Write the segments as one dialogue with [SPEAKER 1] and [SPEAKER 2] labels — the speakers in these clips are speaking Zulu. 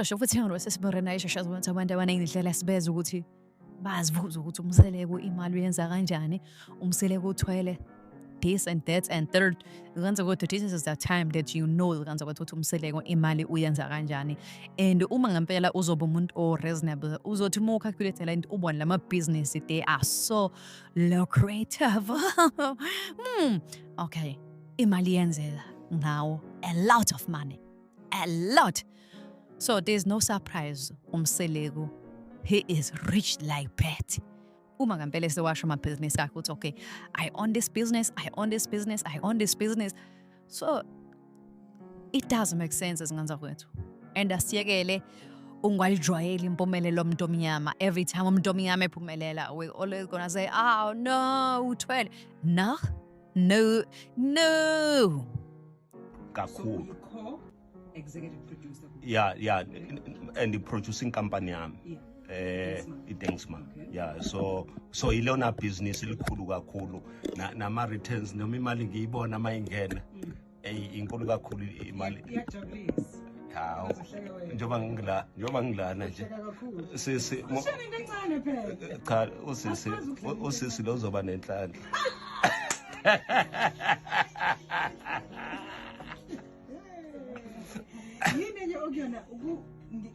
[SPEAKER 1] Cishe futhi ngiyolosesibore naye sheshe azobona ukuthi abantu abaningi indlela sibeza ukuthi bazibuza ukuthi umseleko imali uyenza kanjani umseleko uthwele this and that and third kanza kodwa this is the time that you know kanza kodwa ukuthi umseleko imali uyenza kanjani and uma ngempela uzoba umuntu o reasonable uzothi uma ucalculate la into ubone lama business they are so lucrative hmm okay imali yenzeka ngawo a lot of money a lot So there's no surprise umseleku he is rich like that. Uma ngempela sewasho amabhizinisi akhe uthi okay I own this business, I own this business, I own this business. So it doesn't make sense ezingane zakwethu. And asiyekele ungwalijwayeli impumelelo omuntu omnyama every time umuntu omnyama ephumelela we always gonna say oh no uthwele no no no
[SPEAKER 2] kakhulu so
[SPEAKER 3] executive producer yeah
[SPEAKER 2] yeah and the producing company yami yeah.
[SPEAKER 3] eh iDengsma
[SPEAKER 2] okay. yeah
[SPEAKER 3] so
[SPEAKER 2] so ilona business elikhulu kakhulu nama returns noma imali ngiyibona mayingena mm. eyi inkulu kakhulu imali iyajabulisa
[SPEAKER 3] hawu
[SPEAKER 2] njengoba ngila njengoba ngilana nje sisi
[SPEAKER 3] cha
[SPEAKER 2] usisi usisi lozoba nenhlanhla
[SPEAKER 3] yini enye okuyona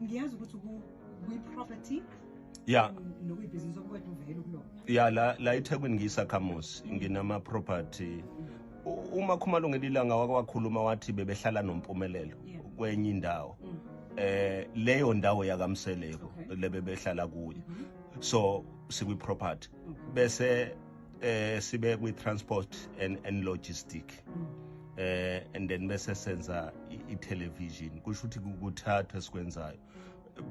[SPEAKER 3] ngiyazi ukuthi kwi-property ya
[SPEAKER 2] nokuyibhizinisi
[SPEAKER 3] okukwethu uvele kulona ya la la
[SPEAKER 2] ethekwini ngiyisakhamuzi nginama-property uma khumalo ngelilanga wake wakhuluma wathi bebehlala nompumelelo kwenye indawo mm. eh leyo ndawo yakamseleko lebebehlala kuyo mm-hmm. so sikwi property bese eh sibe kwi transport and and logistic eh and then bese senza i television kusho ukuthi kuthatha esikwenzayo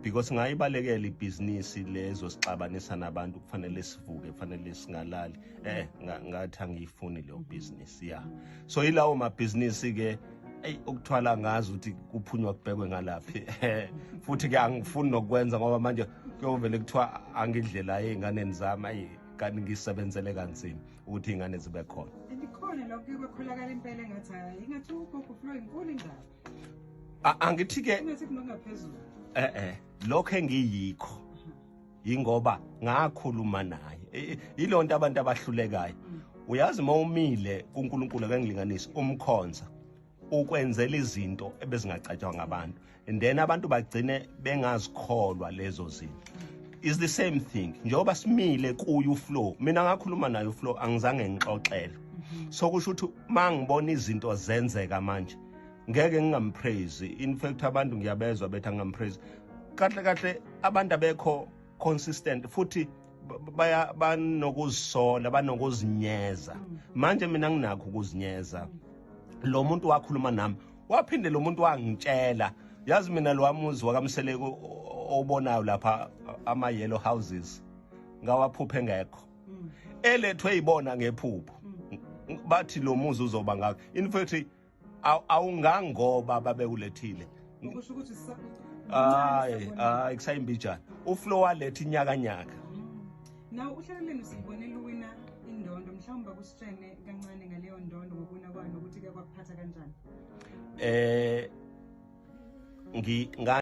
[SPEAKER 2] because ngayibalekela ibhizinisi lezo sixabanisa nabantu kufanele sivuke kufanele singalali eh ngathi angiyifuni leyo business yeah so ilawo mabhizinisi ke eyi ukuthwala ngazi ukuthi kuphunywa kubhekwe ngalaphi futhi ke angifuni nokwenza ngoba manje kuyovele kuthiwa angidlela ey'nganeni zami ayi kanti ngisebenzele kanzima ukuthi iy'ngane zibe khona ikhona lokho
[SPEAKER 3] bakholakala impela engathi hayi
[SPEAKER 2] ingathi ugogo flow inkulu indaba
[SPEAKER 3] angithi-ke e-e
[SPEAKER 2] lokho engiyikho yingoba ngakhuluma naye yilo nto abantu abahlulekayo mm. uyazi uma umile kuNkulunkulu akangilinganisi umkhonza ukwenzela izinto ebezingacatshwanga abantu and then abantu bagcine bengazikholwa lezo zinto is the same thing njengoba simile kuye uflow mina ngakhuluma naye uflow angizange ngixoxele mhm. so kusho ukuthi uma ngibona izinto zenzeka manje ngeke ngingampraise in fact abantu ngiyabezwa bethi angampraise kahle kahle abantu abekho consistent futhi baya banokuzisola banokuzinyeza mm. manje mina nginakho ukuzinyeza lo muntu wakhuluma nami waphinde lo muntu wangitshela yazi mina lo wamuzi wakamseleko obonayo lapha ama-yellow houses ngawaphupha engekho mm. elethwe yibona ngephupho mm. bathi lo muzi uzoba ngakho in fact awungangoba babekulethile ukusho ukuthi
[SPEAKER 3] hayi hayi
[SPEAKER 2] kusayimbijana uflo waletha inyakanyaka mm. nawo
[SPEAKER 3] uhlaleleni sibone luwina indondo mhlawumbe kusitshene kancane ngaleyo ndondo ngokuwina kwayo nokuthi ke kwakuphatha kanjani eh ngi